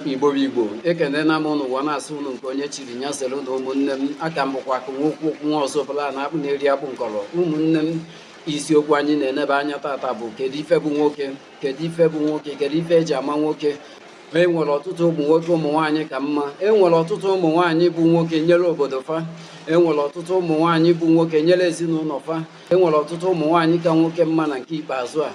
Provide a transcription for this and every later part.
igbo bụ igbo ekenena m ụnụ ụwa na-asọ ụnụ nke onye chiri nya zere ụnụ ụmụnne m aka m bụkwa akụ nwa okwu okwu nwa ọzọ bụla na akpụ na-eri akpụ nkọrọ ụmụnne m isiokwu anyị na-enebe anya tata bụ kedu ife bụ nwoke kedu ife bụ nwoke kedu ife eji ama nwoke ma e nwere ọtụtụ ụmụ nwoke ụmụ nwaanyị ka mma e nwere ọtụtụ ụmụ nwaanyị bụ nwoke nyere obodo fa e nwere ọtụtụ ụmụ nwaanyị bụ nwoke nyere ezinụlọ fa e nwere ọtụtụ ụmụ nwaanyị ka nwoke mma na nke ikpeazụ a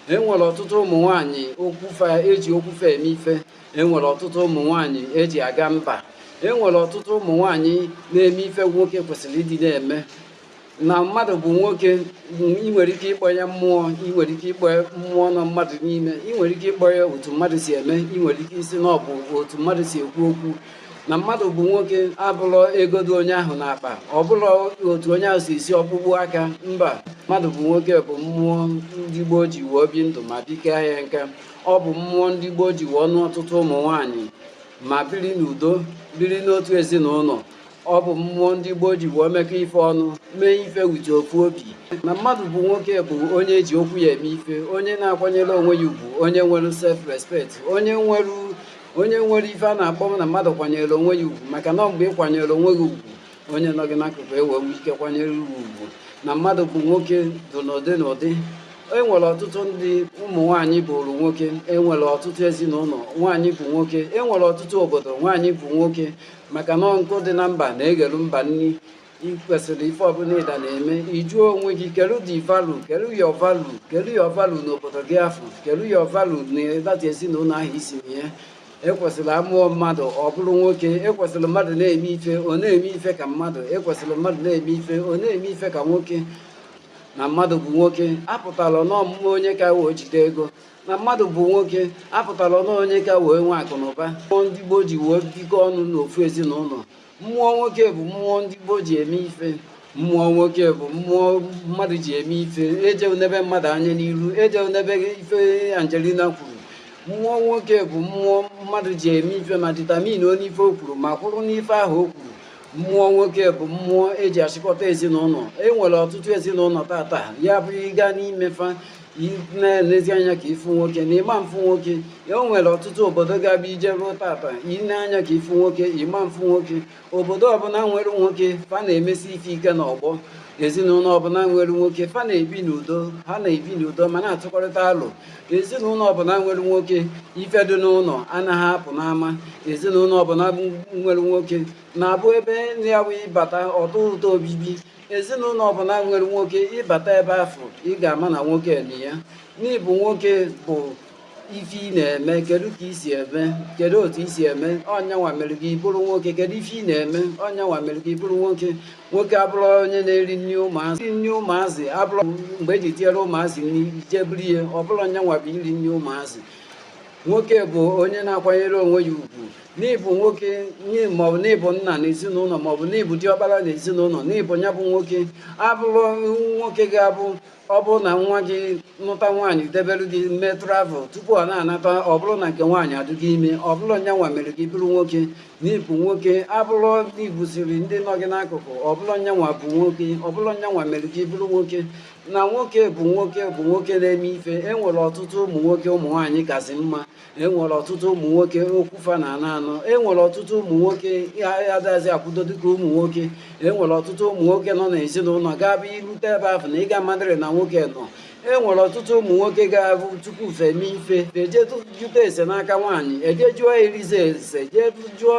e nwere ọtụtụ ụmụ nwanyị okwu fa eji okwu fa eme ife e nwere ọtụtụ ụmụ nwanyị eji aga mba e nwere ọtụtụ ụmụ nwanyị na-eme ife nwoke kwesịrị ịdị na-eme na mmadụ bụ nwoke ị nwere ike ịkpọ ya mmụọ ị nwere ike ịkpọ mmụọ nọ mmadụ n'ime ị nwere ike ịkpọ ya otu mmadụ si eme ị nwere ike ịsị na ọ bụ otu mmadụ si ekwu okwu na mmadụ bụ nwoke abụrọ ego dị onye ahụ n'akpa ọ bụrọ otu onye ahụ si esi ọkpụkpụ aka mba mmadụ bụ nwoke bụ mmụọ ndị gboo ji wee bi ndụ ma dị kaa nka ọ bụ mmụọ ndị gboo ji wee nụ ọtụtụ ụmụ nwaanyị ma biri n'udo biri n'otu ezinụlọ ọ bụ mmụọ ndị gboo ji wee mekọ ife ọnụ mee ife wete ofu obi na mmadụ bụ nwoke bụ onye eji okwu ya eme ife onye na-akwanyere onwe ya ugwu onye nwere self respect onye nwere onye nwere ife a na-akpọ m na mmadụ kwanyere onwe ya ugwu maka na mgbe ị kwanyere onwe gị ugwu onye nọ gị n'akụkụ e wee nwee ike kwanyere gị ugwu na mmadụ bụ nwoke dị n'ụdị n'ụdị e nwere ọtụtụ ndị ụmụ nwaanyị bụrụ nwoke e nwere ọtụtụ ezinụlọ nwaanyị bụ nwoke e nwere ọtụtụ obodo nwaanyị bụ nwoke maka na nkụ dị na mba na-eghelu mba nri ị kwesịrị ife ọbụla ịda na-eme ị jụọ onwe gị kedu the value kedu your value kedu your value n'obodo gị afụ kedu your value na that ezinụlọ ahụ i si na ya ekwesịrị a mụọ mmadụ ọ bụrụ nwoke ekwesịrị mmadụ na-eme ife ọ na-eme ife ka mmadụ ekwesịrị mmadụ na-eme ife ọ na-eme ife ka nwoke na mmadụ bụ nwoke apụtarọ na ọ bụ onye ka wee jide ego na mmadụ bụ nwoke apụtarọ na onye ka wee nwee akụ na ụba mmụọ ndị gboo ji wee bikọ ọnụ n'ofu ezinụlọ mmụọ nwoke bụ mmụọ ndị gboo ji eme ife mmụọ nwoke bụ mmụọ mmadụ ji eme ife eje nebe mmadụ anya n'iru eje nebe ife Angelina kwuru mmụọ nwoke bụ mmụọ mmadụ ji eme ife ma determine on ife o kwuru ma kwụrụ n'ife ahụ o kwuru mmụọ nwoke bụ mmụọ eji achịkọta ezinụlọ e nwere ọtụtụ ezinụlọ tata ya bụ ị gaa n'ime fa na-elezi anya ka ị fụ nwoke na ị ma-afụ nwoke o nwere ọtụtụ obodo ga-abụ i jeruo tata i lee anya ka ị fụ nwoke ị ma-afụ nwoke obodo ọbụla nwere nwoke fa na-emesi ife ike n'ọgbọ ezinụlọ ọbụla nwere nwoke fa na-ebi n'udo ha na-ebi n'udo ma na-atụkọrịta alọ ezinụlọ ọbụla nwere nwoke ife dị n'ụlọ anaghị apụ n'ama ezinụlọ ọbụla nwere nwoke na-abụ ebe ndị ya wee bata ọ tọọ ụtọ obibi ezinụlọ ọbụla nwere nwoke ị bata ebe afụ ị ga-ama na nwoke nọ ya n'ịbụ nwoke bụ ife ị na-eme kedu ka i si eme kedu otu i si eme ọ nya nwa mere gị bụrụ nwoke kedu ife ị na-eme ọ nya nwa mere gị bụrụ nwoke nwoke abụrọ onye na-eri nri ụmụazị nri ụmụazị abụrọ mgbe eji tinyere ụmụazị nri jee buru rie ọ bụrọ nya nwa bụ iri nri ụmụazị nwoke bụ onye na-akwanyere onwe ya ugwu n'ịbụ nwoke maọbụ n'ịbụ nna na ezinụlọ maọbụ n'ịbụ diọkpara na ezinụlọ n'ịbụ ya bụ nwoke abụrọ nwoke ga-abụ ọ bụrụ na nwa gị nụta nwaanyị debere gị mee travel tupu ọ na-anata ọ bụrụ na nke nwaanyị adịgo ime ọ bụrọ nya nwa mere gị bụrụ nwoke n'ịbụ nwoke abụrọ n'ibuziri ndị nọ gị n'akụkụ ọ bụrọ nya nwa bụ nwoke ọ bụrọ nya nwa mere gị bụrụ nwoke na nwoke bụ nwoke bụ nwoke na-eme ife e nwere ọtụtụ ụmụ nwoke ụmụ nwaanyị kazị mma enwere ọtụtụ ụmụ nwoke okwu fa na anọ anọ enwere ọtụtụ ụmụ nwoke adazi akwụdo dịka ụmụ nwoke enwere ọtụtụ ụmụ nwoke nọ n'ezinụlọ ga-abụ i rute ebe ahụ na ịga madịrị na nwoke nọ enwere ọtụtụ ụmụ nwoke ga-abụ tupu fa emee ife e jee jụta ese n'aka nwaanyị e jee jụọ eliza ese jee jụọ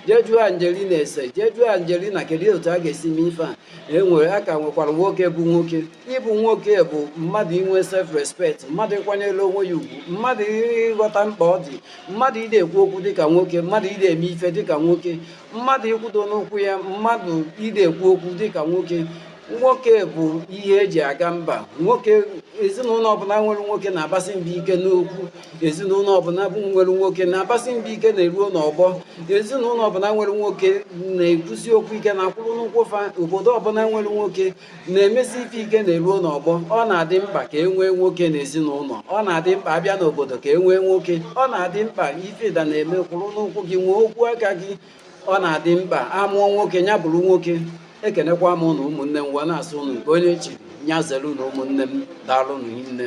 jee jụọ angelina ese jee jụọ angelina kedu otu a ga-esi mee ife a enwere a ka nwekwara nwoke bụ nwoke ịbụ nwoke bụ mmadụ inwe self respect mmadụ ịkwanyere onwe ya ugwu mmadụ ịghọta mkpa ọ dị mmadụ ide ekwu okwu dịka nwoke mmadụ ide eme ife dịka nwoke mmadụ ịkwụdo n'ụkwụ ya mmadụ ide ekwu okwu dịka nwoke nwoke bụ ihe eji aga mba nwoke ezinụlọ ọbụla nwere nwoke na-abasị mba ike n'okwu ezinụlọ ọbụla bụ nwere nwoke na-abasị mba ike na e ruo n'ọgbọ ezinụlọ ọbụla nwere nwoke na-ekwusi okwu ike na-akwụrụ n'ụkwụ fa obodo ọbụla nwere nwoke na-emesi ife ike na e ruo n'ọgbọ ọ na-adị mkpa ka e nwee nwoke n'ezinụlọ ọ na-adị mkpa a bịa n'obodo ka e nwee nwoke ọ na-adị mkpa ife ịda na-eme kwụrụ n'ụkwụ gị nwee okwu aka gị ọ na-adị mkpa a mụọ nwoke nya bụrụ nwoke ekenekwa m ụnụ ụmụnne m wee na-asị ụnụ nke onye chi nya zere ụnụ ụmụnne m daalụ ụnụ nne